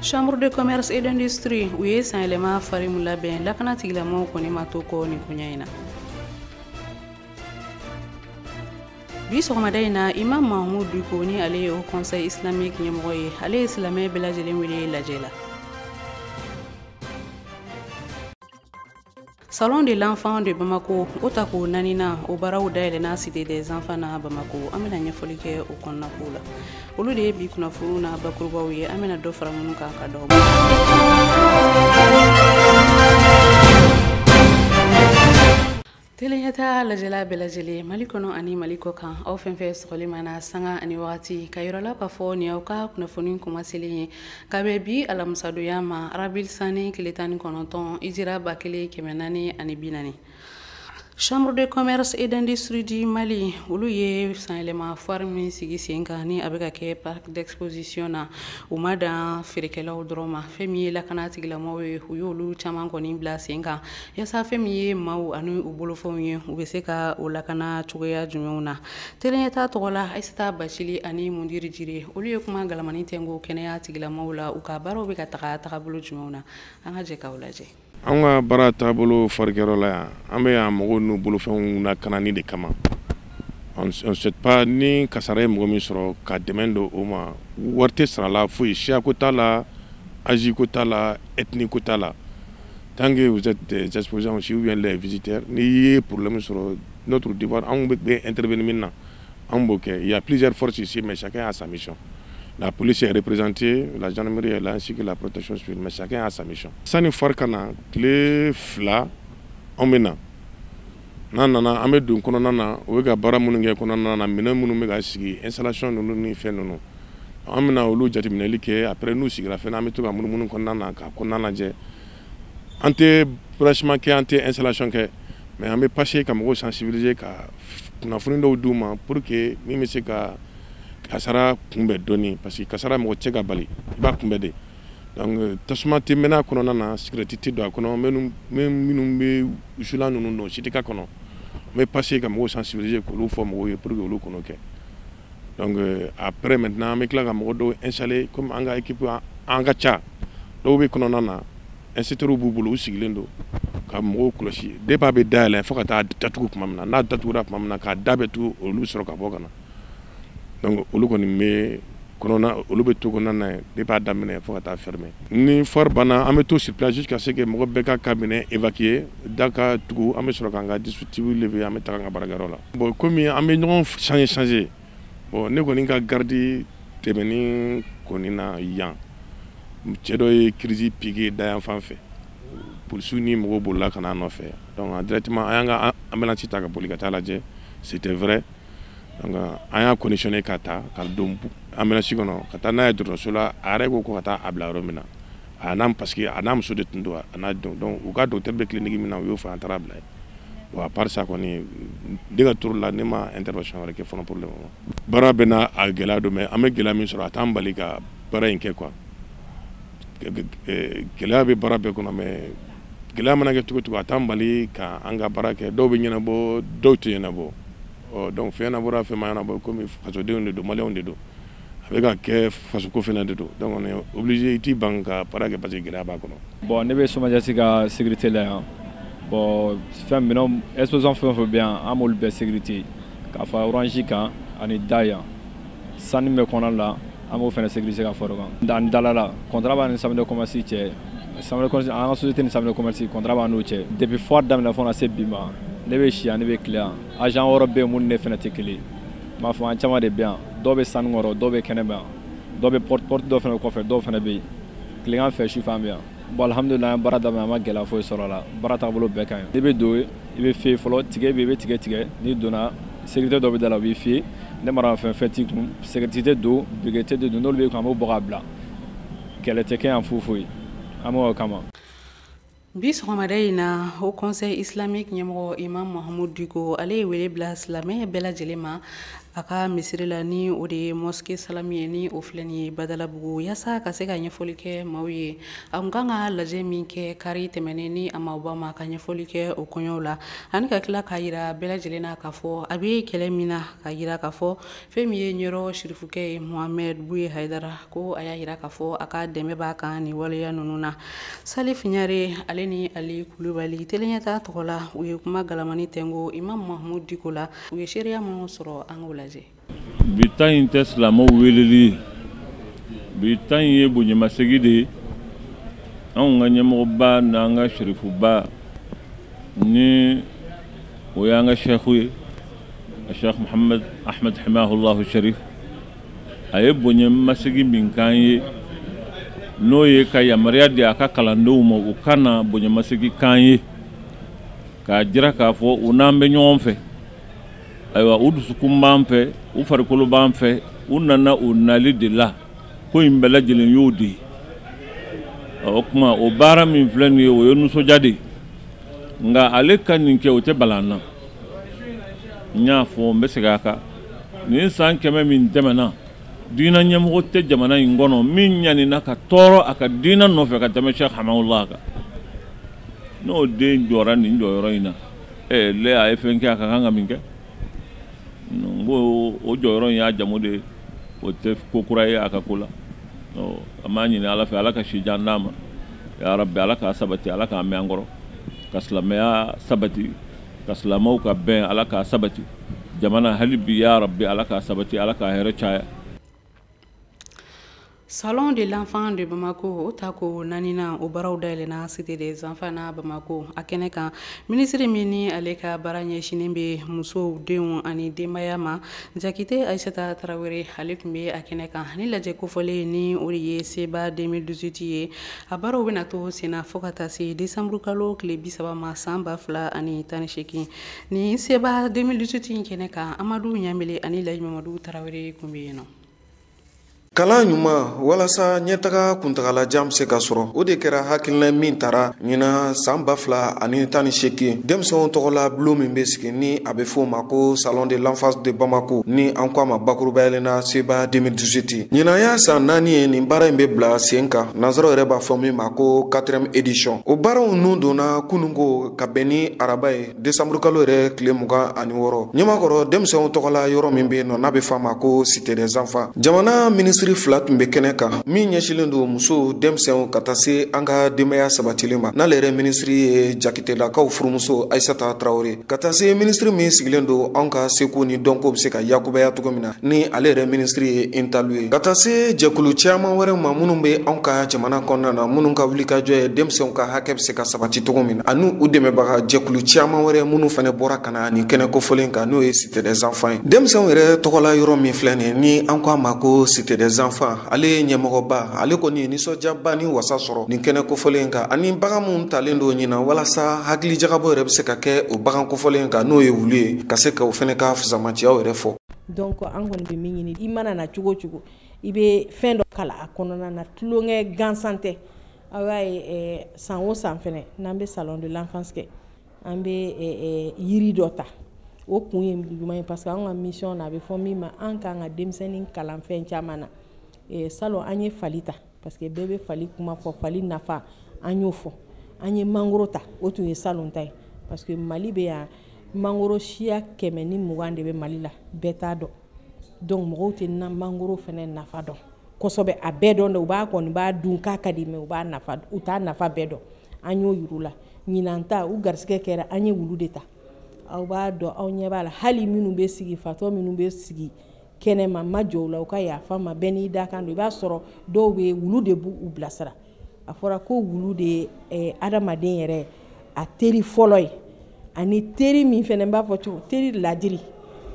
chambre de commerce et d'industrie u ye sanyɛlɛma foire min labɛn lakana tigilamɔgɔw kɔni ma to kɔ nin koɲa in na bi sɔgɔmada in na imam mahamud diko ni ale ye haut conseil islamique ɲɛmɔgɔ ye ale ye silamɛ bɛɛ lajɛlen wele lajɛ la Salon de l'enfant de Bamako o tako naaninan o baaraw dayɛlɛnna Cité des enfants na Bamako an bɛna ɲɛfɔli kɛ o kɔnɔna kow la olu de ye bi kunnafoniw na bakurubaw ye an bɛna dɔ fara minnu kan ka d'aw ma Teleɲɛtaa lajɛla bɛɛ lajɛlen Mali kɔnɔ ani Mali kɔ kan aw fɛn fɛn sɔgɔlen b'an na sanga ani wagati k'a yir'aw la k'a fɔ nin y'aw ka kunnafoni kuma selen ye ka bɛn bi alamisadonya ma arabil sanni tile tan ni kɔnɔntɔn ijira ba kelen kɛmɛ naani ani bi naani chambre de commerce et d'industrie du mali olu ye sanyɛlɛma foire min sigi sen kan ni a bɛ ka kɛ parc d'exposition na u ma dan feerekɛlaw dɔrɔn ma fɛn min ye lakana tigilamɔgɔw ye u y'olu caman kɔni bila sen kan yasa fɛn min ye maaw ani u bolofɛnw ye u bɛ se ka o lakana cogoya jumɛnw na Teleɲɛtaa tɔgɔ la Ayisata Bacili ani Mundiri Jire olu ye kuma galamani tɛnko kɛnɛya tigilamaw la u ka baaraw bɛ ka taga tagabolo jumɛnw na an ka jɛ ka o lajɛ. Anw ka baara taabolo foire kɛyɔrɔ la yan an bɛ yan mɔgɔw n'u bolofɛnw lakanani de kama on ne souhaite pas ni kasara ye mɔgɔ min sɔrɔ ka dɛmɛ don o ma wari tɛ sara la foyi siyako t'a la âge ko t'a la ethnie ko t'a la tant que vous êtes des exposants aussi ou bien les visiteurs n'i ye problème sɔrɔ notre devoir anw bɛ intervenir min na anw b'o kɛ il y a plusieurs forces ici mais chacun a sa mission la police est représentée la gendarmerie est là ainsi que la protection civile mais chacun a sa mission sani foire ka na tile fila anw bɛ na n'an nana an bɛ don kɔnɔna na u bɛ ka baara minnu kɛ kɔnɔna na minɛn minnu bɛ ka sigi installation ninnu ni fɛn ninnu an bɛna olu jateminɛli kɛ après n'u sigira fɛnɛ an bɛ to ka munumunu kɔnɔna na ka kɔnɔna lajɛ an tɛ branchement kɛ an tɛ installation kɛ mais an bɛ passer ka mɔgɔw sensibiliser ka kunnafoni dɔw d'u ma pour que min bɛ se ka kasara kunbɛn dɔɔni parce que kasara mɔgɔ tɛ se k'a bali i b'a kunbɛn de donc tasuma tɛ mɛnɛ a kɔnɔna na cigarette tɛ don a kɔnɔ minnu bɛ wusulan ninnu don o si tɛ k'a kɔnɔ an bɛ passer ka mɔgɔw sensibiliser k'olu fɔ mɔgɔw ye pour que olu kan'o kɛ donc euh, après maintenant an bɛ tila ka mɔgɔ dɔw installer comme an ka équipe an ka ca dɔw bɛ kɔnɔna na extincteurs b'u bolo u sigilen don ka mɔgɔw kɔlɔsi depuis a bɛ dayɛlɛ fo ka taa datugu tuma min na n'a datugura tuma min na k'a da bɛɛ tugu olu sɔrɔ ka bɔ ka na donc olu kɔni bɛ kɔnɔna olu bɛ to kɔnɔna na depuis a daminɛ fo ka taa fermer ni foire banna an bɛ to sur place jusqu'à ce que mɔgɔ bɛɛ k'a ka minɛn évacuer Da ka tugu an bɛ sɔrɔ k'an ka dispositif lever an bɛ taa an ka baarayɔrɔ la bon kɔmi an bɛ ɲɔgɔn changer bɔn ne kɔni ka garde tɛmɛnen kɔni na yan cɛ dɔ ye crise piquer da yan fan fɛ policiers ni mɔgɔw bolila ka na nɔfɛ directement an y'an ka ambulance ta ka boli ka taa lajɛ c'était vrai an y'a conditionné ka taa ka don ambulance kɔnɔ ka taa n'a ye dɔgɔtɔrɔso la a yɛrɛ ko ka taa a bila yɔrɔ min na a n'a parce que a n'a muso de tun don a n'a den donc u ka docteur bɛ clinique min na u y'o fɔ an taara a bila yen bon à part ça kɔni ne ka tour la ne ma intervention wɛrɛ kɛ fɔlɔ pour le moment baara bɛɛ n'a gɛlɛya don mais an bɛ gɛlɛya min sɔrɔ a t'an bali ka baara in kɛ quoi gɛlɛya bɛ baara bɛɛ kɔnɔ mais gɛlɛya mana kɛ cogo o cogo a t'an bali ka an ka baara kɛ dɔw bɛ ɲɛnabɔ dɔw tɛ ɲɛnabɔ ɔ donc fɛn ɲɛnabɔra fɛn ma ɲɛnabɔ komi fasodenw de don maliyɛnw de don a bɛ ka kɛ fasoko fana de don donc on est obligé i t'i ban ka baara kɛ parce que gɛlɛya b'a kɔnɔ. Bon ne bɛ SOMAGES ka sécurité la yan bon fɛn minɛnw exposants fɛn o fɛn bɛ yan an b'olu bɛɛ sécurité k'a fara orange kan ani da yan salle min bɛ kɔnɔna la an b'o fana sécurité ka fara o kan ani dalala contrat b'an ni chambre de commerce cɛ chambre de commerce an ka société ni chambre de commerce contrat b'an n'u cɛ depuis foire daminɛ fo ka na se bi ma ne bɛ si yan ne bɛ tile yan agent wɔɔrɔ bɛ yen minnu ni ne fana tɛ kelen ye. m'a fɔ an caman de bɛ yan dɔw bɛ salle kɔnɔ dɔw bɛ kɛnɛma yan dɔw bɛ porte porte dɔw fana kɔfɛ dɔw fana bɛ yen tilegan fɛ sufɛ an bɛ yan bon alhamdulilayi an baara daminɛ an ma gɛlɛya foyi sɔrɔ a la baara taabolo bɛɛ ka ɲi n'i bɛ don i bɛ fouiller fɔlɔ ticket bɛ i bɛ ticket tigɛ n'i donna sécurité dɔ bɛ da la u b'i fouiller ni maramafɛn t'i kun cigarette don briquet de don n'olu b'i kun an b'o bɔ k'a bila kɛlɛ tɛ kɛ yan foyi foyi an b'o kama bi sɔgɔmada in na haut conseil islamique ɲɛmɔgɔ imam mahamudu diko ale ye wele bila silamɛ bɛɛ lajɛlen ma a ka misiri la ni o de ye mosquée salami ye ni o filɛ nin ye badalabugu yaasa ka se ka ɲɛfɔli kɛ maaw ye a kun kan ka lajɛ min kɛ kari tɛmɛnen ni a ma o bɔ a ma ka ɲɛfɔli kɛ o kɔɲɔw la ani ka tila k'a yira bɛɛ lajɛlen na k'a fɔ a bɛ kɛlɛ min na ka yira k'a fɔ fɛn min ye ɲɔrɔ sirifukɛ ye mohamɛd buye hayidara ko a y'a yira k'a fɔ a ka dɛmɛ b'a kan nin waleya ninnu na salif ɲare ale ni ali kulubali teleɲɛta tɔgɔ la u ye kuma galamani tɛngo imam mahamud diko la u ye seereya minnu sɔrɔ an k'o lajɛ bi ta in tɛ silamɛw weleli ye bi ta in ye bonyamasegi de ye anw ka ɲɛmɔgɔba n'an ka sirifuba ni o y'an ka sɛfu ye Cheikh Mouhamed Ahmed Hamahullahu Sharif a ye bonyamasegin min k'an ye n'o ye ka yamaruya di a ka kalandenw ma u ka na bonyamasegin k'an ye k'a jira k'a fɔ u n'an bɛ ɲɔgɔn fɛ ayiwa u dusukun b'an fɛ u farikolo b'an fɛ u nana u nali de la ko in bɛɛ lajɛlen y'o de ye o kuma o baara min filɛ nin ye o ye nisɔndiya de ye nka ale ka nin kɛ o tɛ bala n na n y'a fɔ n bɛ segin a kan nin san kɛmɛ min tɛmɛna diinɛ ɲɛmɔgɔ tɛ jamana in kɔnɔ min ɲanina ka tɔɔrɔ a ka diinɛ nɔfɛ ka tɛmɛ Cheikh Hamahullah kan n'o den jɔra nin jɔyɔrɔ in na ɛ lɛ a ye fɛn kɛ a ka kan ka min kɛ n ko o jɔyɔrɔ in y'a jamu de ye o tɛ ko kura ye a ka ko la an b'a ɲini ala fɛ ala ka si jan d'a ma ya Rabbi ala k'a sabati ala k'a mɛn an kɔrɔ ka silamɛya sabati ka silamɛw ka bɛn ala k'a sabati jamana hali bi ya Rabbi ala k'a sabati ala k'a hɛrɛ caya Salon de l'enfant de Bamako o tako naaninan o baaraw dayɛlɛna Cité des enfants na Bamako a kɛnɛ kan minisiri min ni ale ka baara ɲɛsinnen bɛ musow denw ani denbaya ma Jakite Ayisata Tarawele ale tun bɛ a kɛnɛ kan ni lajɛ kofɔlen ni o de ye SEBA 2018 ye a baaraw bɛna to senna fo ka taa se desanburukalo tile bisaba ma saan ba fila ani tan ni seegin nin seba 2018 in kɛnɛ kan amadu ɲamele ani laji mamadu tarawele kun bɛ yen nɔ kalan ɲuman walasa ɲɛtaga kuntagalajan be se ka sɔrɔ o de kɛra hakilina min tara ɲinan saan ba fila ani tan ni seegin denmisɛnw tɔgɔla bulon min be sigi ni a be fɔ ma ko salon de l'enfance de bamako ni an ko a ma bakurubayalen na seba 2018 ɲinan y'a san naani ye nin baara in be bila sen kan nansaraw yɛrɛ b'a fɔ min ma ko quatrième édition o baaraw nun donna kununko ka bɛn ni araba ye desanburu kalo yɛrɛ tile mugan ani wɔɔrɔ ɲamakɔrɔ denmisɛnw tɔgɔla yɔrɔ min be yen nɔ n'a be f'a ma ko Cité des enfants jamana minisiri fila tun be kɛnɛ kan min ɲɛsilen don musow denmisɛnw ka taa se an ka denbaya sabatilen ma n'ale yɛrɛ minisiri ye jakitelakaw furumuso Aïssata Traoré ka taa se minisiri min sigilen don anw ka seko ni dɔnko bɛ se ka yakubaya cogo min na ni ale yɛrɛ minisiri ye intalu ye ka taa se jɛkulu caman wɛrɛ ma minnu bɛ anw ka jamana kɔnɔna na minnu ka wulikajɔ ye denmisɛnw ka hakɛ bɛ se ka sabati cogo min na ani u dɛmɛbaga jɛkulu caman wɛrɛ minnu fana bɔra ka na nin kɛnɛ kofɔlen kan n'o ye Cité des enfants ye denmisɛnw yɛrɛ tɔgɔla yɔrɔ min filɛ nin ni an ko a ma ko Cité des enfants ale ye ɲɛmɔgɔba ale kɔni ye nisɔndiyaba ni wasa sɔrɔ nin kɛnɛ kofɔlen in kan ani bagan minnu talen don ɲinan walasa hakili jagabɔ yɛrɛ bɛ se ka kɛ o bagan kofɔlen in kan n'o ye wulu ye ka se ka o fana ka fusamaciyaw yɛrɛ fɔ donc an kɔni bɛ min ɲini i mana na cogo cogo i bɛ fɛn dɔ kalan a kɔnɔna na tulonkɛ gansan tɛ aw y'a ye eh, san o san fɛnɛ n'an bɛ salon de l'enfance kɛ an bɛ eh, eh, yiri dɔ ta o kun ye juman ye parce que an ka mission na a bɛ fɔ min ma an k'an ka denmisɛnnin kalan fɛn caman na salon an ye fali ta parce que bɛɛ bɛ fali kuma fɔ fali nafa an y'o fɔ an ye mangoro ta o tun ye salon ta ye parce que mali bɛ yan mangoro siya kɛmɛ ni mugan de bɛ mali la bɛɛ t'a dɔn donc mɔgɔw tɛ na mangoro fɛnɛ nafa dɔn kosɛbɛ a bɛɛ dɔn dɛ u b'a kɔni b'a dun k'a ka di mais u b'a nafa u t'a nafa bɛɛ dɔn an y'o yir'u la ɲinan ta u garisigɛ kɛra an ye wulu de ta aw b'a dɔn aw ɲɛ b'a la hali minnu bɛ sigi fatɔ minnu bɛ sigi kɛnɛma n ma jɔ u la u ka yafa n ma bɛɛ n'i dakan don i b'a sɔrɔ dɔw bɛ wulu de b'u bilasira a fɔra ko wulu de ye eh, adamaden yɛrɛ a teri fɔlɔ ye ani teri min fɛnɛ b'a fɔ cogo teri ladiri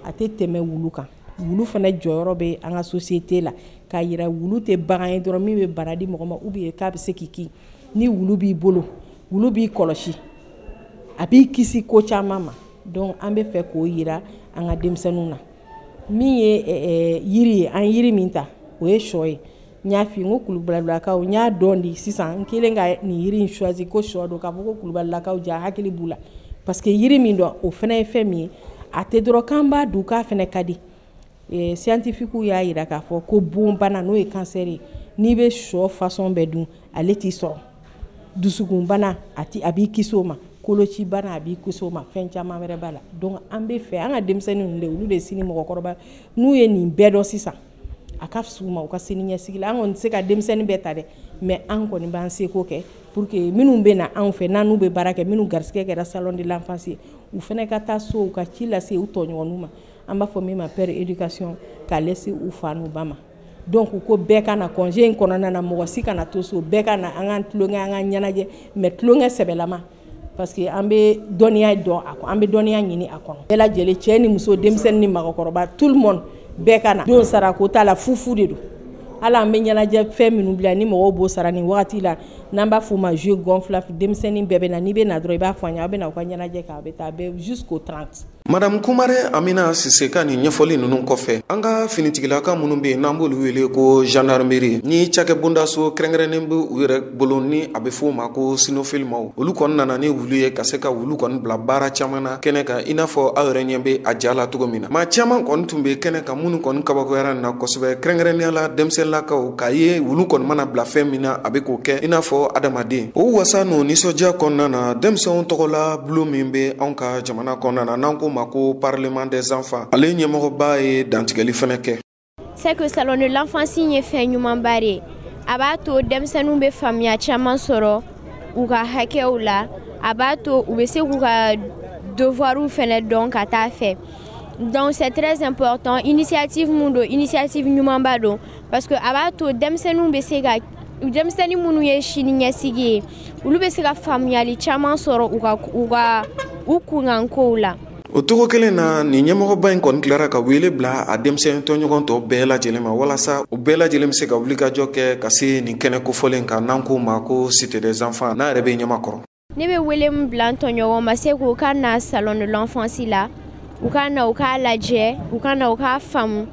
a tɛ tɛmɛ wulu kan wulu fana jɔyɔrɔ bɛ an ka société la k'a yira wulu tɛ bagan ye dɔrɔn min bɛ bana di mɔgɔ ma ou bien k'a bɛ se k'i kin ni wulu b'i bolo wulu b'i kɔlɔsi a b'i kisi ko caman ma donc an b'a fɛ k'o yira an ka denmisɛnninw na min ye eh, eh, yiri ye an yiri min ta o ye sɔ ye n y'a fɔ n ko kulubalakaw n y'a dɔn di sisan n kɛlen ka nin yiri in choisi ko sɔ don k'a fɔ ko kulubalakaw jaa hakili b'u la parce que yiri min don o fana ye fɛn min ye a tɛ dɔrɔn k'an b'a dun k'a fɛnɛ ka di eh, scientifiquew y'a yira k'a fɔ ko bonbana n'o ye cancer ye n'i bɛ sɔ façon bɛɛ dun ale t'i sɔrɔ dusukunbana a tɛ a b'i kisi o ma kolocibana a b'i kisi o ma fɛn caman wɛrɛ b'a la donc an b'a fɛ an ka denmisɛnnin ninnu de olu de sini mɔgɔkɔrɔba n'u ye nin bɛɛ dɔn sisan a ka fisa u ma u ka sini ɲɛsigi la an kɔni tɛ se ka denmisɛnnin bɛɛ ta dɛ mais an kɔni b'an seko kɛ pour que minnu bɛ na anw fɛ n'an n'u bɛ baara kɛ minnu garisigɛ kɛra salon de l'enfance ye u fana ka taa so u ka ci lase u tɔɲɔgɔnninw ma an b'a fɔ min ma pair éducation k'a lase u fa n'u ba ma donc ko bɛɛ ka na congé in kɔnɔna na mɔgɔ si kana to so bɛɛ ka na an k'an tulonkɛ an ka ɲɛnajɛ mais tulonkɛ sɛbɛlama parce que an bɛ dɔnniya dɔn a kɔnɔ an bɛ dɔnniya ɲini a kɔnɔ bɛɛ lajɛlen cɛ ni muso denmisɛnnin ni mɔgɔkɔrɔba tout le monde bɛɛ ka na donsara ko t'a la fufu de don hali an bɛ ɲɛnajɛ fɛn minnu bila ni mɔgɔw b'o sara nin wagati la n'an b'a f'o ma jeu gonflable denmisɛnnin bɛɛ bɛ na n'i bɛ na dɔrɔn i b'a fɔ an ye aw bɛ na aw ka ɲɛnajɛ kɛ a bɛ taa bɛɛ jusqu'au 30 madamu kumare amina sise ka nin ɲɛfɔli nunu kɔfɛ an ka finitigilakaw minnu be yen n'an b'olu wele ko gendarmeri ni cakɛ bondaso kɛrɛnkɛrɛnnen be u yɛrɛ bolo ni a be f'o ma ko sinofili maaw olu kɔni nana ni wulu ye ka se ka wulu kɔni bila baara caaman na kɛnɛ kan i n'a fɔ aw yɛrɛ ɲɛ be a ja la cogo min na maa caaman kɔni tun be kɛnɛ kan minnu kɔni kabakoyara nin na kosɛbɛ kɛrɛnkɛrɛnnenya la denmisɛnlakaw k'a ye wulu kɔni mana bila fɛn min na a be k'o kɛ i n'a fɔ adamaden o wasa n'o nisɔndiya kɔnɔna na denmisɛnw tɔgɔla bulon min be anw ka Mana kɔnɔna na n'an k'o ma ko parlement des enfants ale ɲɛmɔgɔba ye dantigɛli fɛnɛ kɛ. C'est que salon de l'enfance ye fɛn ɲumanba de ye a b'a to denmisɛnninw bɛ faamuya caman sɔrɔ u ka hakɛw la a b'a to u bɛ se k'u ka devoirs fɛnɛ dɔn ka taa fɛ. donc c'est très important initiative min don initiative ɲumanba don parce que a b'a to denmisɛnninw bɛ se ka denmisɛnnin minnu ye sini ɲɛsigi ye olu bɛ se ka faamuyali caman sɔrɔ u ka u ka u kunkan kow la o cogo kelen na nin ɲɛmɔgɔba in kɔni tilara ka wele bila a denmisɛn tɔɲɔgɔn tɔ bɛɛ lajɛlen ma walasa u bɛɛ lajɛlen bɛ se ka wulikajɔ kɛ ka se nin kɛnɛ kofɔlen kan n'an k'o ma ko cité des enfants n'a yɛrɛ bɛ ɲamakɔrɔ ne bɛ wele min bila n tɔɲɔgɔn ma c'est qu'u ka na salon de l'enfance la u ka na u k'a lajɛ u ka na u k'a faamu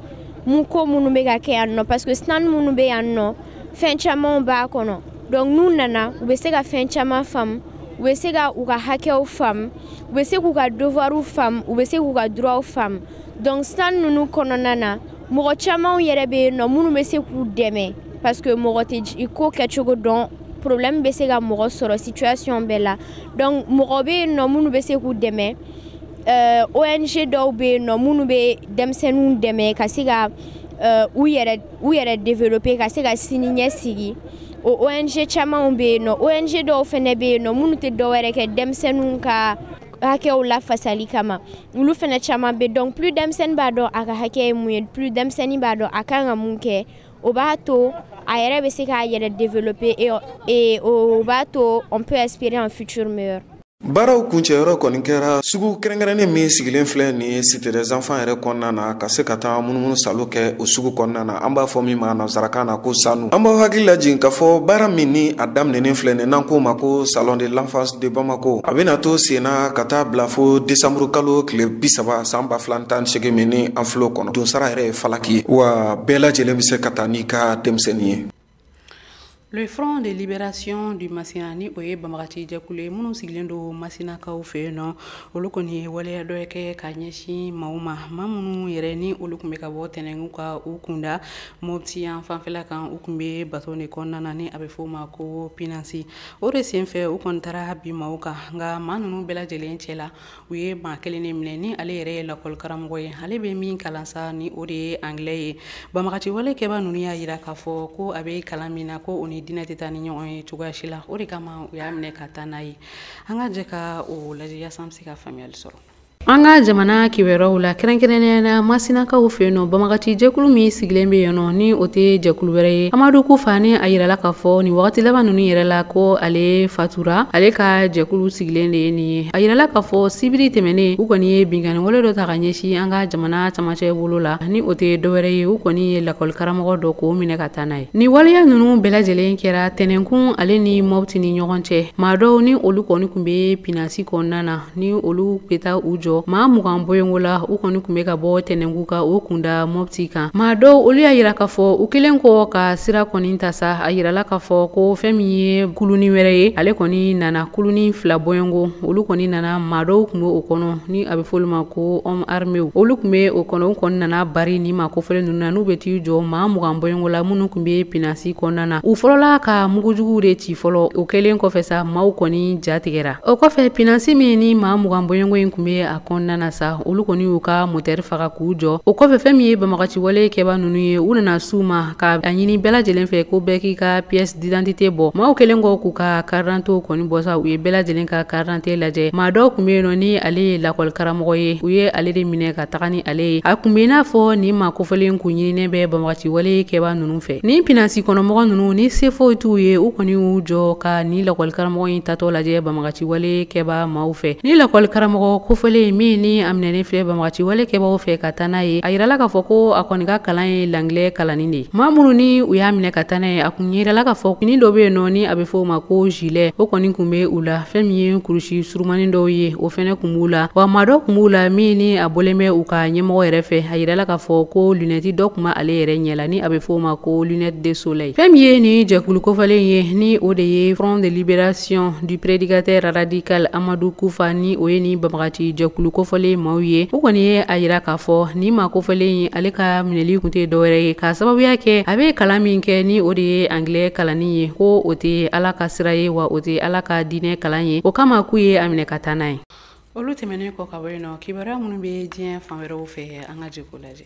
mun ko minnu bɛ ka kɛ yan nɔ parce que stand minnu bɛ yan nɔ fɛn camanw b'a kɔnɔ donc n'u nana u bɛ se ka fɛn caman faamu u bɛ se ka u ka hakɛw faamu u bɛ se k'u ka devoirs faamu u bɛ se k'u ka droits faamu donc stand ninnu kɔnɔna na mɔgɔ camanw yɛrɛ bɛ yen nɔ minnu bɛ se k'u dɛmɛ parce que mɔgɔ tɛ ko kɛcogo dɔn problème bɛ se ka mɔgɔ sɔrɔ situation bɛɛ la donc mɔgɔ bɛ yen nɔ minnu bɛ se k'u dɛmɛ euh, ONG dɔw bɛ yen nɔ minnu bɛ denmisɛnninw dɛmɛ ka se ka euh, u yɛrɛ u yɛrɛ développer ka se ka sini ɲɛsigi o ONG camanw bɛ yen nɔ ONG dɔw fɛnɛ bɛ yen nɔ minnu tɛ dɔwɛrɛ kɛ denmisɛnninw ka hakɛw lafasali kama olu fɛnɛ caman bɛ donc plus denmisɛnnin b'a dɔn a ka hakɛ ye mun ye plus denmisɛnnin b'a dɔn a kan ka mun kɛ o b'a to a yɛrɛ bɛ se k'a yɛrɛ développer et, et o b'a to on peut espérer un futur meilleur baaraw kuncɛyɔrɔ kɔni kɛra sugu kɛrɛnkɛrɛnnen min sigilen filɛ nin ye cité des enfants yɛrɛ kɔnɔna na ka se ka taa munumunusaalo kɛ o sugu kɔnɔna na an b'a fɔ min ma nansarakan na ko standw an b'aw hakili lajigin k'a fɔ baara min ni a daminɛnen filɛ nin n'an k'o ma ko salon de l'enfance de bamako a bɛna to senna ka taa bila fo desanburu kalo tile bi saba san ba fila tan segin min ni an fil'o kɔnɔ donsara yɛrɛ ye falaki ye wa bɛɛ lajɛlen bɛ se ka taa n'i ka denmisɛnnin ye Le Front de Libération du Masina ni o ye banbagaci jɛkulu ye minnu sigilen don Masinakaw fɛ yen nɔ olu kɔni ye waleya dɔ kɛ ka ɲɛsin maaw ma maa minnu yɛrɛ ni olu tun bɛ ka bɔ tɛnɛnku ka u kunda mopti yan fanfɛla kan u tun bɛ bato de kɔnɔna na ni a bɛ f'o ma ko pinasi o de senfɛ u kɔni taara bin maaw kan nka maa ninnu bɛɛ lajɛlen cɛ la u ye maa kelen de minɛ ni ale yɛrɛ ye lakɔlikaramɔgɔ ye ale bɛ min kalan sa ni o de ye angilɛ ye banbagati walekɛba ninnu y'a jira k'a fɔ ko a bɛ kalan min na ko o ni diinɛ tɛ taa ni ɲɔgɔn ye cogoya si la o de kama u y'a minɛ ka taa n'a ye an ka jɛ ka o lajɛ yaasa an bɛ se ka faamuyali sɔrɔ an ka jamana kibaruyaw la kɛrɛnkɛrɛnnenya la masinakaw fɛ yen nɔ banbagati jɛkulu min sigilen bɛ yen nɔ ni o tɛ jɛkulu wɛrɛ ye amadu kufa ni a yirala k'a fɔ nin wagati laban ninnu yɛrɛ la ko ale fatura ale ka jɛkulu sigilen de ye nin ye a yirala k'a fɔ sibiri tɛmɛnen u kɔni ye binkanni wale dɔ ta ka ɲɛsin an ka jamana camancɛ bolo la ni o tɛ dɔwɛrɛ ye u kɔni ye lakɔli karamɔgɔ dɔ k'o minɛ ka taa n'a ye nin waleya ninnu bɛɛ lajɛlen kɛra tɛnɛnkun ale ni mɔbiti ni ɲɔgɔn cɛ maa dɔw ni olu kɔni kun bɛ pinasi kɔnɔna na ni olu bɛ taa u jɔ maa mugan bɔɲɔgɔnko la u kɔni kun bɛ ka bɔ tɛnɛnkun ka o kun da mɔbiti kan maa dɔw olu y'a yira k'a fɔ u kɛlen kɔ ka sira kɔni ta sa a yirala k'a fɔ ko fɛn min ye kulunin wɛrɛ ye ale kɔni nana kulunin fila bɔɲɔgɔnko olu kɔni nana maa dɔw kun bɛ o kɔnɔ ni a bɛ fɔ olu ma ko hommes armés olu kun bɛ o kɔnɔ u kɔni nana bari nin maa kofɔlen ninnu na n'u bɛ t'i jɔ maa mugan bɔɲɔgɔnko la minnu kun bɛ pinasi kɔnɔna na u fɔlɔla ka mugujugu de ci fɔlɔ o kɛlen kɔfɛ sa maaw kɔni jatigɛ o kɔfɛ pinasi min ni maa mugan bɔɲɔgɔnko in kun bɛ a kɔnɔna na sa olu kɔni y'u ka motɛri faga k'u jɔ o kɔfɛ fɛn min ye banbagaci wale kɛba ninnu ye u nana s'u ma ka a ɲini bɛɛ lajɛlen fɛ ko bɛɛ k'i ka pièce d'identité bɔ maaw kɛlen kɔ k'u ka carte d'identité kɔni bɔ sa u ye bɛɛ lajɛlen ka carte d'identité lajɛ maa dɔ kun bɛ yen nɔ ni ale ye lakɔlikaramɔgɔ ye u ye ale de minɛ ka taga ni ale ye a kun bɛ i n'a fɔ nin maa kofɔlen kun ɲininen bɛ banbagaci wale kɛba ninnu fɛ ni pinasi kɔnɔmɔgɔ ninnu ni se foyi t'u ye u kɔni y'u jɔ ka nin lakɔlikaramɔgɔ in taatɔ lajɛ banbagaci wale kɛba maaw fɛ nin lakɔlikaramɔgɔ kofɔlen min ni a minɛnen filɛ banbagaci wale kɛbaw fɛ ka taa n'a ye a yirala k'a fɔ ko a kɔni ka kalan ye langilɛ kalanni de ye maa minnu ni u y'a minɛ ka taa n'a ye a kun yirala k'a fɔ fini dɔ bɛ yen nɔ ni a bɛ fɔ o ma ko zilɛ o kɔni kun bɛ u la fɛn min ye kurusi surumanin dɔw ye o fɛnɛ kun b'u la wa maa dɔ kun b'u la min ni a bɔlen bɛ u ka ɲɛmɔgɔ yɛrɛ fɛ a yirala k'a fɔ ko lunɛti dɔ kun bɛ ale yɛrɛ ɲɛ la ani a bɛ f'o ma ko lunette de soleil fɛn min ye nin jɛkulu kofɔlen ye ni o de ye front de libération du prédicateur radical amadu kufa ni o ye nin banbagati jɛkulu kofɔlen maaw ye u kɔni ye a yira k'a fɔ nin maa kofɔlen ye ale ka minɛli kun tɛ dɔwɛrɛ ye k'a sababuya kɛ a bɛ kalan min kɛ ni o de ye anglais kalanni ye ko o tɛ ala ka sira ye wa o tɛ ala ka diinɛ kalan ye o kama k'u ye a minɛ ka taa n'a ye olu tɛmɛnen kɔ ka bɔ yen nɔ kibaruya minnu bɛ diɲɛ fan wɛrɛw fɛ an ka jɛ k'o lajɛ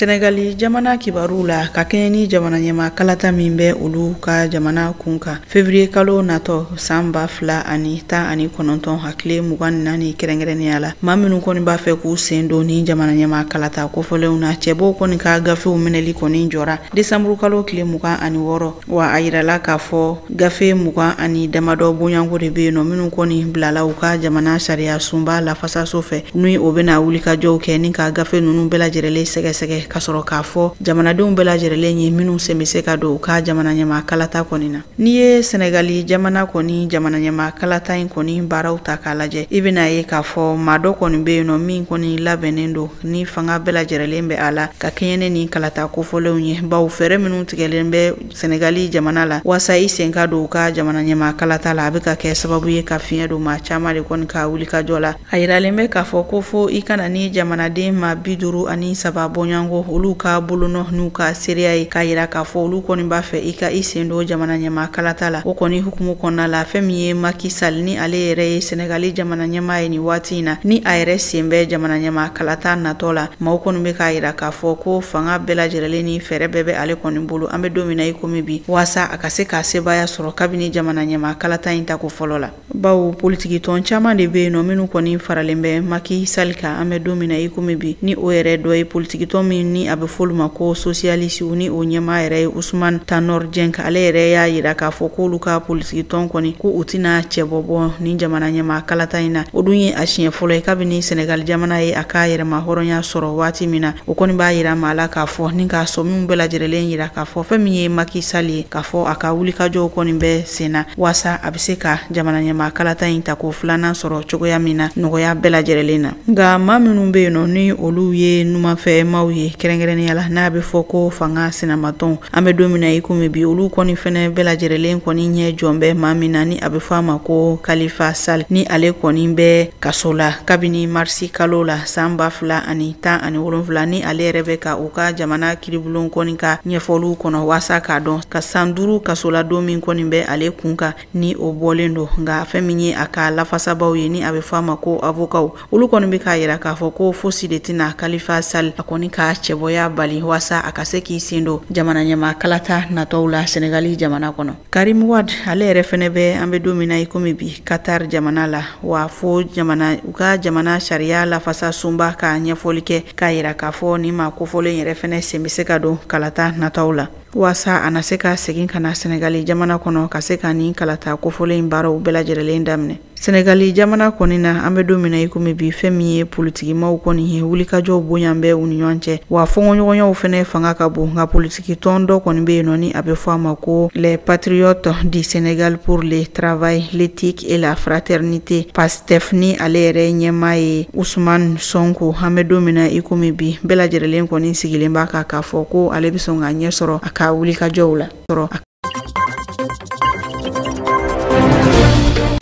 Senegali jamana kibaru la ka kɛɲɛ ni jamana ɲɛma kalata min bɛ olu ka jamana kun kan fevriye kalo natɔ san ba fila ani tan ani kɔnɔntɔn a tile mugan naani kɛrɛnkɛrɛnnenya la maa minnu kɔni b'a fɛ k'u sen don ni jamana ɲɛma kalata kofɔlenw na cɛbɔw kɔni ka gafew minɛli kɔni jɔra desanburu kalo tile mugan ani wɔɔrɔ wa a yirala k'a fɔ gafe mugan ani damadɔ bɔɲɔgɔnko de bɛ yen nɔ minnu kɔni bilala u ka jamana sariya sunba lafasaso fɛ ni o bɛna wulikajɔw kɛ ni ka gafe ninnu bɛɛ lajɛrɛlen sɛgɛsɛgɛ ka sɔrɔ k'a fɔ jamanadenw bɛɛ lajɛrɛlen ye minnu sen bɛ se ka don u ka jamana ɲɛma kalata kɔni na n'i ye Senegali jamana kɔni jamana ɲɛma kalata in kɔni baaraw ta k'a lajɛ i bɛn'a ye k'a fɔ maa dɔ kɔni bɛ yen nɔ min kɔni labɛnnen don ni fanga bɛɛ lajɛrɛlen bɛ a la ka kɛɲɛ ni ni kalata kofɔlenw ye bawo fɛɛrɛ minnu tigɛlen bɛ Senegali jamana la waasa i sen ka don u ka jamana ɲɛma kalata la a bɛ ka kɛ sababu ye ka fiɲɛ don maa caman de kɔni ka wulikajɔ la a yiralen bɛ k'a fɔ ko fo i ka na ni jamanaden maa bi duuru ani saba bɔɲɔgɔnko olu ka bolonɔ n'u ka seereya ye k'a yira k'a fɔ olu kɔni b'a fɛ i ka i sen don jamana ɲɛma kalata la o kɔni hukumu kɔnɔna la fɛn min ye Macky Sall ni ale yɛrɛ ye Senegali jamana ɲɛma ye nin waati waati na ni a yɛrɛ sen bɛ jamana ɲɛma kalata natɔ la maaw kɔni bɛ k'a yira k'a fɔ ko fanga bɛɛ lajɛrɛlen ni fɛɛrɛ bɛɛ bɛ ale kɔni bolo an bɛ don min na i komi bi waasa a ka se k'a sebaya sɔrɔ kabini jamana ɲɛma kalata in tako fɔlɔ la bawo politiki tɔn caman de bɛ yen nɔ minnu kɔni faralen bɛ Macky Sall kan an bɛ don min na i komi bi ni o yɛrɛ dɔ ye politiki tɔn min ni a bɛ f'olu ma ko sosiyalisiw ni o ɲɛmaa yɛrɛ ye Ousmane Tanor Dieng ale yɛrɛ y'a yira k'a fɔ k'olu ka politiki tɔn kɔni ko u tɛna cɛbɔ bɔ ni jamana ɲɛmaa kalata in na o dun ye a siɲɛ fɔlɔ ye kabini Senegal jamana ye a ka yɛrɛma hɔrɔnya sɔrɔ waati min na o kɔni b'a yira maa la k'a fɔ ni ka sɔmiw bɛɛ lajɛrɛlen yira k'a fɔ fɛn min ye Macky Sall ye k'a fɔ a ka wulikajɔw kɔni bɛ sen na waasa a bɛ se ka jamana ɲɛmaa kalata in ta ko filanan sɔrɔ cogoya min na nɔgɔya bɛɛ lajɛrɛlen na. nka maa minnu bɛ yen nɔ ni olu ye numanfɛ maaw ye kɛrɛnkɛrɛnnenya la n'a bɛ fɔ ko fanga sinamatɔn an bɛ don min na i komi bi olu kɔni fɛnɛ bɛɛ lajɛrɛlen kɔni ɲɛ jɔn bɛ maa min na ni a bɛ fɔ a ma ko Khalifa Sall ni ale kɔni bɛ kaso la kabini marisi kalo la san ba fila ani tan ani wolonfila ni ale yɛrɛ bɛ ka u ka jamana kiiribulon kɔni ka ɲɛfɔliw kɔnɔ waasa k'a dɔn ka san duuru kasoladon min kɔni bɛ ale kun kan ni o bɔlen don nka fɛn min ye a ka lafasabaaw ye ni a bɛ fɔ a ma ko avokaw olu kɔni bɛ k'a yira k'a fɔ ko fosi de tɛna Khalifa Sall a kɔni ka cɛbɔya bali waasa a ka se k'i sen don jamana ɲɛma kalata natɔw la Senegali jamana kɔnɔ Karim Wade ale yɛrɛ fɛnɛ bɛ an bɛ don min na i komi bi Qatar jamana la wa fo jamana u ka jamana sariya lafasa sunba ka ɲɛfɔli kɛ k'a yira k'a fɔ nin maa kofɔlen yɛrɛ fɛnɛ sen bɛ se ka don kalata natɔw la waasa a na se ka segin ka na sɛnɛgali jamana kɔnɔ ka se ka nin kalata kofɔlen in baaraw bɛɛ lajɛrɛlen daminɛ sɛnɛgali jamana kɔni na an bɛ don min na i komi bi fɛn min ye politikimaw kɔni ye wulikajɔw bonyan bɛ u ni ɲɔgɔn cɛ wa fɔngɔɲɔgɔnyaw fɛnɛ fanga ka bon nka politiki tɔn dɔ kɔni bɛ yen nɔ ni a bɛ fɔ a ma ko les patriotes du sénégal pour le travail l'éthique et la fraternité tef ni ale yɛrɛ ɲɛmaa ye Usman Sonko an bɛ don min na i komi bi bɛɛ lajɛrɛlen kɔni sigilen b'a kan k'a fɔ ko ale bɛ sɔn ka ɲɛ sɔrɔ a ka wulikajɔw la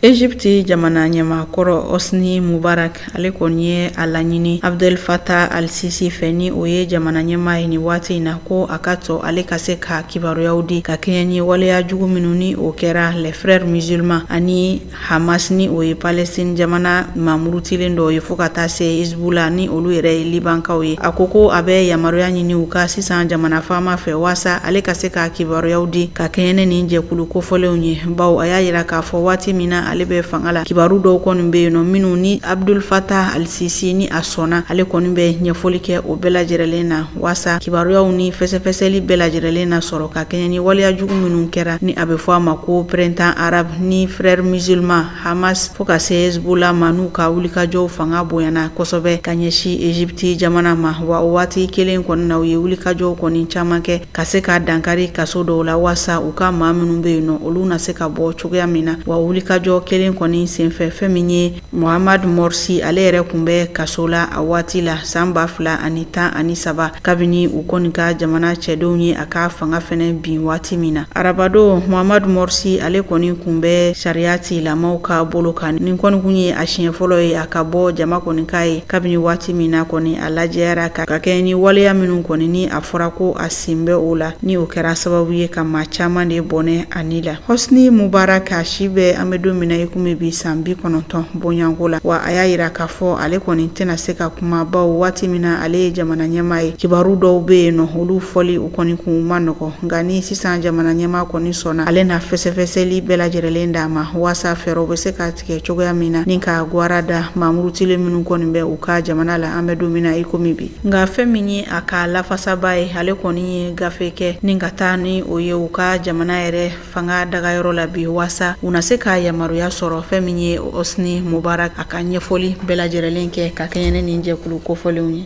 Egypte jamana ɲɛmakɔrɔ Hosni Mubarak ale kɔni ye a laɲini Abdel Fattah al-Sisi fɛ ni o ye jamana ɲɛmaa ye nin waati in na ko a ka to ale ka se ka kibaruyaw di ka kɛɲɛ ni waleya jugu minnu ni o kɛra les frères musulmans ani Hamas ni o ye Palestine jamana mamurutilen dɔ ye fo ka taa se Hezbollah ni olu yɛrɛ ye Libankaw ye. A ko ko a bɛ yamaruya ɲini u ka sisan jamana faama fɛ waasa ale ka se ka kibaruyaw di ka kɛɲɛ ni nin jɛkulu kofɔlenw ye. Bawo a y'a yira k'a fɔ waati min na ale bɛ fanga la, kibaru dɔw kɔni bɛ yen nɔ minnu ni Abdul Fattah al-Sisi ni a sɔnna, ale kɔni bɛ ɲɛfɔli kɛ o bɛɛ lajɛrɛlen na. waasa kibaruyaw ni fɛsɛfɛsɛli bɛɛ lajɛrɛlen na sɔrɔ ka kɛɲɛ ni waleya jugu minnu kɛra ni a bɛ fɔ a ma ko printemps arabe ni frères musulmans hamas fo ka se hezbollah ma n'u ka wulikajɔw fanga bonyana kosɛbɛ ka ɲɛsi egypte jamana ma wa o waati kelen kɔni na u ye wulikajɔw kɔni caman kɛ ka se ka dankari kaso dɔw la waasa u ka maa minnu bɛ yen nɔ olu na se ka bɔ cogoya min na wa o wulikajɔ kelen kɔni senfɛ fɛn min ye Mohamadu Morsi ale yɛrɛ kun bɛ kaso la a waati la san ba fila ani tan ani saba kabini u kɔni ka jamana cɛdenw ye a ka fanga fɛnɛ bin waati min na arabadon Mohamadu Morsi ale kɔni kun bɛ sariya tigɛlamaw ka bolo kan nin kɔni kun ye a siɲɛ fɔlɔ ye a ka bɔ jama kɔni k'a ye kabini waati min na kɔni a lajɛyara ka ka kɛɲɛ ni waleya minnu kɔni ni a fɔra ko a sen bɛ o la ni o kɛra sababu ye ka maa caman de bɔnɛ a ni la Hosni Mubarak a si bɛ an bɛ don min na i komi bi san bi kɔnɔntɔn bɔɲɔgɔnko la wa a y'a yira k'a fɔ ale kɔni tɛna se ka kuma bawo waati min na ale ye jamana ɲɛmaa ye kibaru dɔw bɛ yen nɔ olu fɔli u kɔni kun ma nɔgɔ nka ni sisan jamana ɲɛmaa kɔni sɔnna ale na fɛsɛfɛsɛli bɛɛ lajɛrɛlen d'a ma waasa fɛɛrɛw bɛ se ka tigɛ cogoya min na ni ka gwara da mamurutilen minnu kɔni bɛ u ka jamana la an bɛ don min na i komi bi nka fɛn min ye a ka lafasaba ye ale kɔni ye gafe kɛ ni ka taa ni o ye u ka jamana yɛrɛ fanga dagayɔrɔ la bi waasa u na se ka yamaruya sɔrɔ fɛn min ye hosni mubarak a ka ɲɛfɔli bɛɛ lajɛrɛlen kɛ ka kɛɲɛ ni nin jɛkulu kofɔlenw ye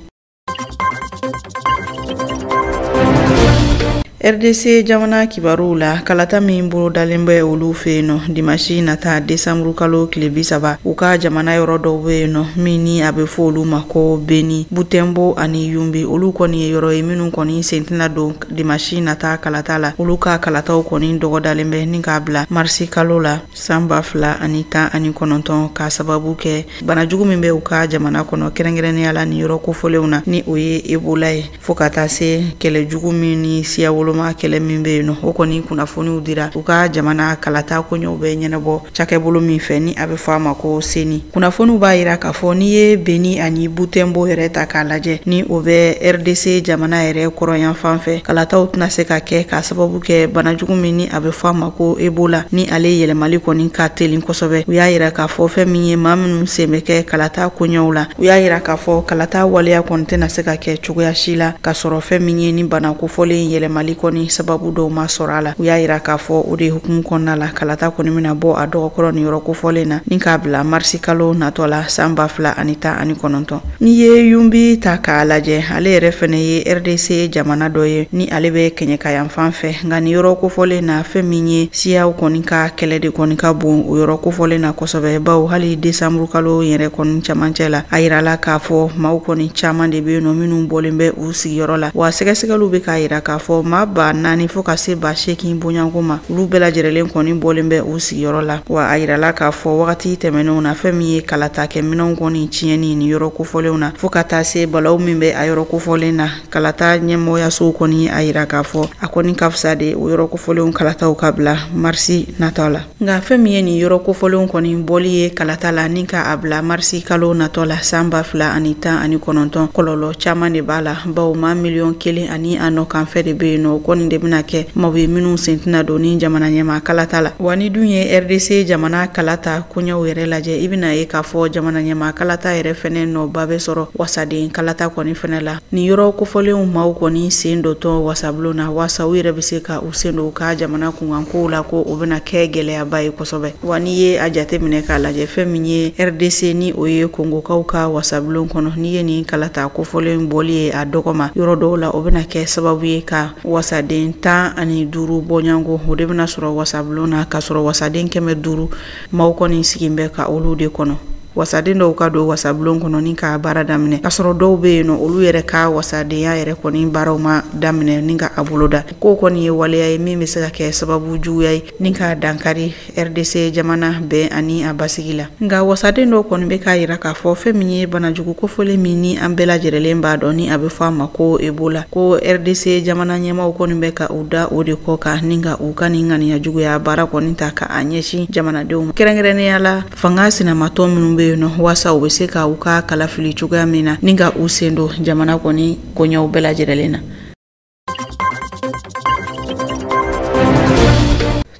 rdc jamana kibaruw la kalata min bolodalen bɛ olu fɛ yen nɔ dimasi nata desanburu kalo tile bi saba u ka jamana yɔrɔ dɔw bɛ yen nɔ min ni a bɛ fɔ olu ma ko beni butɛnbo ani yunbi olu kɔni ye yɔrɔ ye minnu kɔni sen tɛna don dimasi nata kalata la olu ka kalataw kɔni dɔgɔdalen bɛ ni k'a bila marisi kalo la san ba fila ani tan ani kɔnɔntɔn k'a sababu kɛ banajugu min bɛ u ka jamana kɔnɔ kɛrɛnkɛrɛnnenya la ni yɔrɔ kofɔlenw na ni o ye ebola ye fɔɔ ka taa se kɛlɛ jugu min ni siya woloma kɛlɛ min bɛ yen nɔ o kɔni kunnafoniw dira u ka jamana kalata koɲɛw bɛ ɲɛnabɔ cakɛbolo min fɛ ni a bɛ fɔ a ma ko seni kunnafoniw b'a yira k'a fɔ n'i ye beni ani butɛnbo yɛrɛ ta k'a lajɛ ni o bɛ rdc jamana yɛrɛ kɔrɔnyanfan fɛ kalataw tɛna se ka kɛ k'a sababu kɛ bana jugu min ni a bɛ fɔ a ma ko ebola ni ale yɛlɛmali kɔni ka telin kosɛbɛ u y'a yira k'a fɔ fɛn min ye maa minnu sen bɛ kɛ kalata koɲɛw la u y'a yira k'a fɔ kalata waleya kɔni tɛna se ka kɛ cogoya si la k'a sɔrɔ fɛn min ye ni bana kofɔlen yɛlɛmali kɔni sababu dɔw ma sɔrɔ a la u y'a yira k'a fɔ o de hukumu kɔnɔna la kalata kɔni bɛna bɔ a dɔgɔ kɔrɔ ni yɔrɔ kofɔlen na ni k'a bila marisi kalo natɔ la san ba fila ani tan ani kɔnɔntɔn n'i ye yunbi ta k'a lajɛ ale yɛrɛ fɛnɛ ye rdc jamana dɔ ye ni ale bɛ kɛɲɛkayanfan fɛ nka ni yɔrɔ kofɔlen na fɛn min ye siyaw kɔni ka kɛlɛ de kɔni ka bon o yɔrɔ kofɔlen na kosɛbɛ bawo hali desanburu kalo yɛrɛ kɔni camancɛ la a yirala k'a fɔ maaw kɔni caman de bɛ yen nɔ minnu bɔlen bɛ u sigiyɔrɔ la wa sɛgɛsɛgɛliw bɛ k'a yira k'a fɔ maa ba naani fɔɔ ka se ba seegin bɔɲɔgɔnko ma olu bɛɛ lajɛrɛlen kɔni bɔlen bɛ u sigiyɔrɔ la wa a yirala k'a fɔ wagati tɛmɛnenw na fɛn min ye kalatakɛ minɛnw kɔni tiɲɛni ni yɔrɔ kofɔlenw na fɔɔ ka taa se balaw min bɛ a yɔrɔ kofɔlen na kalata ɲɛmɔgɔyasow kɔni y'a yira k'a fɔ a kɔni ka fisa de o yɔrɔ kofɔlenw kalataw ka bila marisi natɔ la nka fɛn min ye nin yɔrɔ kofɔlenw kɔni bɔli ye kalata la ni ka a bila marisi kalo natɔ la san ba fila ani tan ani kɔnɔntɔn kɔlɔlɔ caman de b'a la bawo maa miliyɔn kelen ani a nɔkanfɛ de be yen nɔ o kɔni de bena kɛ maaw ye minw sen tɛna don ni jamana ɲɛmaa kalata la wa n'i dun ye rdc jamana kalata koɲɛw yɛrɛ lajɛ i bena ye k'a fɔ jamana ɲɛmaa kalata yɛrɛ fɛnɛ nɔba be sɔrɔ wasaden kalata kɔni fɛnɛ la ni yɔrɔ kofɔlenw maaw kɔni sen dontɔ wasabulon na waasa u yɛrɛ be se ka u sen don u ka jamana kunkankow la ko o bena kɛ gɛlɛyaba ye kosɛbɛ wa n'i ye a jate minɛ k'a lajɛ fɛn min ye rdc ni o ye kongokaw ka wasabulon kɔnɔ n'i ye nin kalata kofɔlen bɔli ye a dɔgɔ ma yɔrɔ dɔw la o bɛna kɛ sababu ye ka wasaden tan ani duuru bɔɲɔgɔnko o de bɛna sɔrɔ wasabulon na k'a sɔrɔ wasaden kɛmɛ duuru maaw kɔni sigin bɛ ka olu de kɔnɔ wasaden dɔw ka don wasabulon kɔnɔ ni ka baara daminɛ k'a sɔrɔ dɔw bɛ yen nɔ olu yɛrɛ ka wasadenya yɛrɛ kɔni baaraw ma daminɛ ni ka a boloda k'o kɔni ye waleya ye min bɛ se ka kɛ sababu juguya ye ni ka dankari rdc jamana bɛn ani a basigi la nka wasaden dɔ kɔni bɛ k'a yira k'a fɔ fɛn min ye banajugu kofɔlen min ni an bɛɛ lajɛrɛlen b'a dɔn ni a bɛ fɔ a ma ko ebola ko rdc jamana ɲɛmaaw kɔni bɛ ka u da o de kɔ kan ni ka u ka nin ŋaniya juguya baara kɔni ta ka a ɲɛsin jamanadenw ma kɛrɛnkɛrɛnnenya la fanga sinamatɔn minnu bɛ yen nɔ waasa u bɛ se ka u ka kala fili cogoya min na ni ka u sen don jamana kɔni koɲɛw bɛɛ lajɛrɛlen na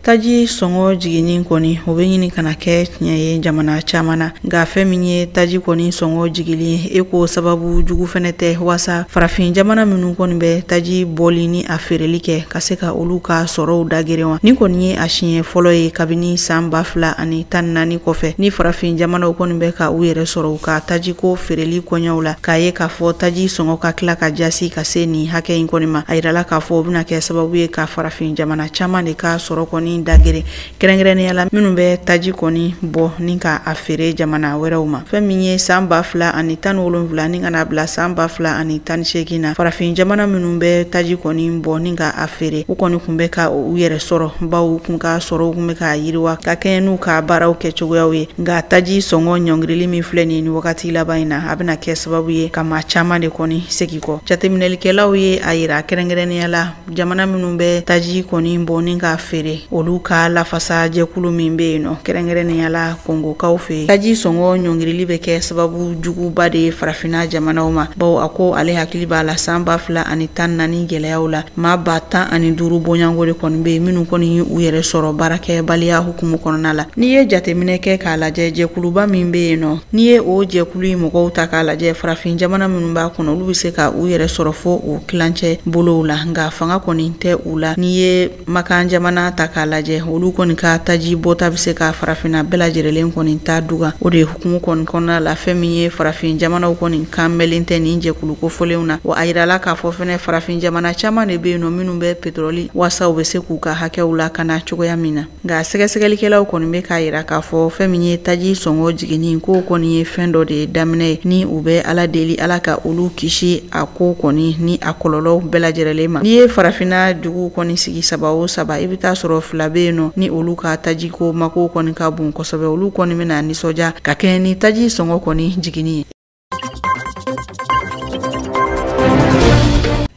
taji sɔngɔ jiginni kɔni o bɛ ɲini ka na kɛ tiɲɛ ye jamana caman na nka fɛn min ye taji kɔni sɔngɔ jigili ye ko sababu jugu fɛnɛ tɛ waasa farafin jamana minnu kɔni bɛ taji bɔli ni a feereli kɛ ka se ka olu ka sɔrɔw dagere wa nin kɔni ye a siɲɛ fɔlɔ ye kabini san ba fila ani tan naani kɔfɛ ni farafin jamanaw kɔni bɛ ka u yɛrɛ sɔrɔ u ka tajiko feereli koɲɛw la k'a ye k'a fɔ taji sɔngɔ ka tila ka jasi ka se nin hakɛ in kɔni ma a yirala k'a fɔ o bɛna kɛ sababu ye ka farafin jamana caman de ka sɔrɔ kɔni dagere kɛrɛnkɛrɛnnenya la minnu bɛ taji kɔni bɔ ni ka a feere jamana wɛrɛw ma fɛn min ye san ba fila ani tan ni wolonwula ni ka na bila san ba fila ani tan ni seegin na farafin jamana minnu bɛ taji kɔni bɔ ni ka a feere u kɔni kun bɛ ka u yɛrɛ sɔrɔ bawo kun ka sɔrɔw kun bɛ ka yiriwa ka kɛɲɛ n'u ka baaraw kɛ cogoyaw ye nka taji sɔngɔ ɲɔngirili min filɛ nin wagati laban in na a bɛna kɛ sababu ye ka maa caman de kɔni segin kɔ jateminɛlikɛlaw ye a yira kɛrɛnkɛrɛnnenya la jamana minnu bɛ taji kɔni bɔ ni k'a feere olu ka lafasa jɛkulu min bɛ yen nɔ kɛrɛnkɛrɛnnenya la kongokaw fɛ taji sɔngɔ ɲɔngirili bɛ kɛ sababu juguba de ye farafinna jamanaw ma bawo a ko ale hakili b'a la san ba fila ani tan naani gɛlɛyaw la maa ba tan ani duuru bɔɲɔgɔnko de kɔni bɛ yen minnu kɔni u yɛrɛ sɔrɔ baarakɛbaliya hukumu kɔnɔna la n'i ye jateminɛ kɛ k'a lajɛ jɛkuluba min bɛ yen nɔ N'i ye o jɛkulu in mɔgɔw ta k'a lajɛ farafin jamana minnu b'a kɔnɔ olu bɛ se ka u yɛrɛ sɔrɔ fo o kilancɛ bolow la nka fanga kɔni tɛ u la n'i ye makan jamana ta k'a lajɛ olu kɔni ka taji bɔta bɛ se ka farafinna bɛɛ lajɛrɛlen kɔni ta dugan o de hukumu kɔni kɔnɔna la fɛn min ye farafin jamanaw kɔni kan mɛlen tɛ nin jɛkulu kofɔlenw na wa a yirala k'a fɔ fɛnɛ farafin jamana caman de bɛ yen nɔ minnu bɛ petɔrɔli waasa u bɛ se k'u ka hakɛw lakana cogoya min na nka sɛgɛsɛgɛlikɛlaw kɔni bɛ k'a yira k'a fɔ fɛn min ye taji sɔngɔ jiginni ko kɔni ye fɛn dɔ de daminɛ ye ni u bɛ ala deli ala ka olu kisi a ko kɔni ni a kɔlɔlɔw bɛɛ lajɛrɛlen ma n'i ye farafinna duguw kɔni sigi saba o saba i bɛ taa sɔrɔ fila bɛ yen nɔ ni olu ka taji ko mako kɔni ka bon kosɛbɛ olu kɔni bɛna nisɔndiya ka kɛɲɛ ni taji sɔngɔ kɔni jiginni ye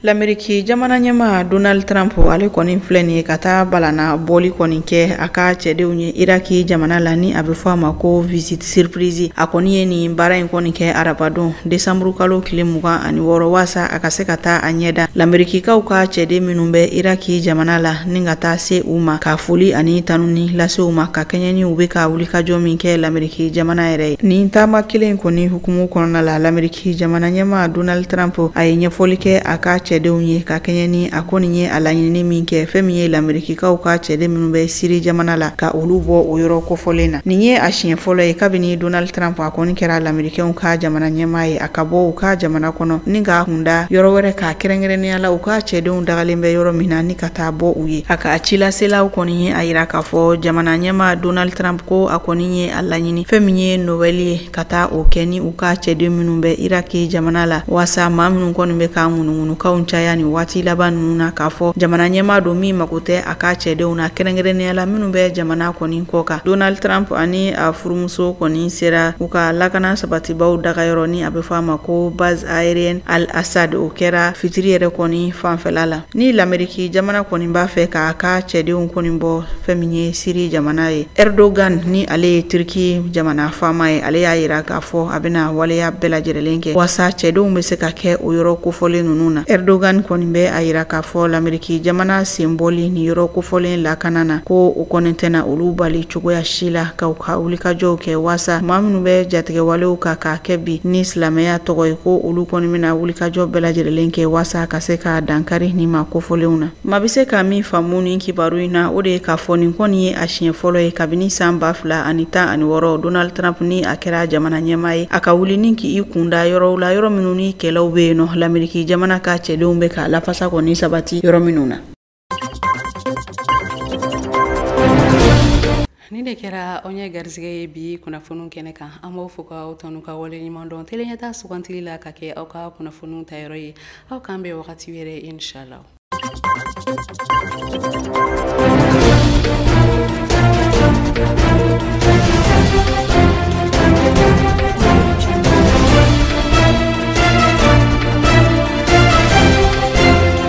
lameriki jamana ɲɛmaa donald trump ale kɔni filɛ nin ye ka taa balana bɔli kɔni kɛ a ka cɛdenw ye iraki jamana la ni a bɛ fɔ a ma ko visite surprise a kɔni ye nin baara in kɔni kɛ arabadon desanburu kalo tile mugan ani wɔɔrɔ waasa a ka se ka taa a ɲɛ da lamerikikaw ka cɛden minnu bɛ iraki jamana la ni ka taa se u ma ka foli ani tanuni lase u ma ka kɛɲɛ ni u bɛ ka wulikajɔ min kɛ lameriki ki jamana yɛrɛ ye nin taama kelen kɔni hukumu kɔnɔna la lameriki jamana ɲɛmaa donald trump a ye ɲɛfɔli kɛ a ka cɛdenw ye ka kɛɲɛ ni a kɔni ye a laɲinini min kɛ fɛn min ye lamerikikaw ka cɛden minnu bɛ siri jamana la ka olu bɔ o yɔrɔ kofɔlen na nin ye a siɲɛ fɔlɔ ye kabini donald trump a kɔni kɛra lamerikɛnw ka jamana ɲɛmaa ye a ka bɔ u ka jamana kɔnɔ ni k'a kunda yɔrɔ wɛrɛ kan kɛrɛnkɛrɛnnenya la u ka cɛdenw dagalen bɛ yɔrɔ min na ni ka taa bɔ u ye a ka cilaselaw kɔni ye a yira k'a fɔ jamana ɲɛmaa donald trump ko a kɔni ye a laɲini fɛn min ye nowɛli ye ka taa o kɛ ni u ka cɛden minnu bɛ iraki jamana la waasa maa minnu kɔni bɛ ka ŋunuŋunukanw caya nin waati laban ninnu na k'a fɔ jamana ɲɛmaa don min mago tɛ a ka cɛdenw na kɛrɛnkɛrɛnnenya la minnu bɛ jamana kɔni kɔkan donald trump ani a furumuso kɔni sera u ka lakana sabatibaaw dagayɔrɔ ni a bɛ fɔ a ma ko base aérienne al assad o kɛra fitiri yɛrɛ kɔni fanfɛla la ni lameriki jamana kɔni b'a fɛ k'a ka cɛdenw kɔni bɔ fɛn min ye siri jamana ye erdogan ni ale ye turki jamana faama ye ale y'a yira k'a fɔ a bɛna waleya bɛɛ lajɛrɛlen kɛ waasa cɛdenw bɛ se ka kɛ o yɔrɔ kofɔlen ninnu na erdogan kɔni bɛ a yira k'a fɔ lameriki jamana senbɔli ni yɔrɔ kofɔlen lakana na ko o kɔni tɛna olu bali cogoya si la ka u ka wulikajɔw kɛ waasa maa minnu bɛ jatigɛwalew ka k'a kɛ bi ni silamɛya tɔgɔ ye ko olu kɔni bɛna wulikajɔ bɛɛ lajɛrɛlen kɛ waasa ka se ka dankari nin maa kofɔlenw na maa bɛ se ka min faamu nin kibaru in na o de ye k'a fɔ nin kɔni ye a siɲɛ fɔlɔ ye kabini san ba fila ani tan ani wɔɔrɔ donald trump ni a kɛra jamana ɲɛmaa ye a ka wuli ni k'i kunda yɔrɔw la yɔrɔ minnu ni kɛlɛw bɛ yen nɔ lameriki jamana ka cɛdenw bɛ ka lafasa kɔni sabati yɔrɔ minnu na nin de kɛra anw ye garisɛgɛ ye bi kunnafoniw kɛnɛ kan an b'aw fo k'aw tanu k'aw waleɲumandɔn tele ɲɛta sugantili la ka kɛ aw ka kunnafoniw tayɔrɔ ye aw k'an bɛn wagati wɛrɛ inshallah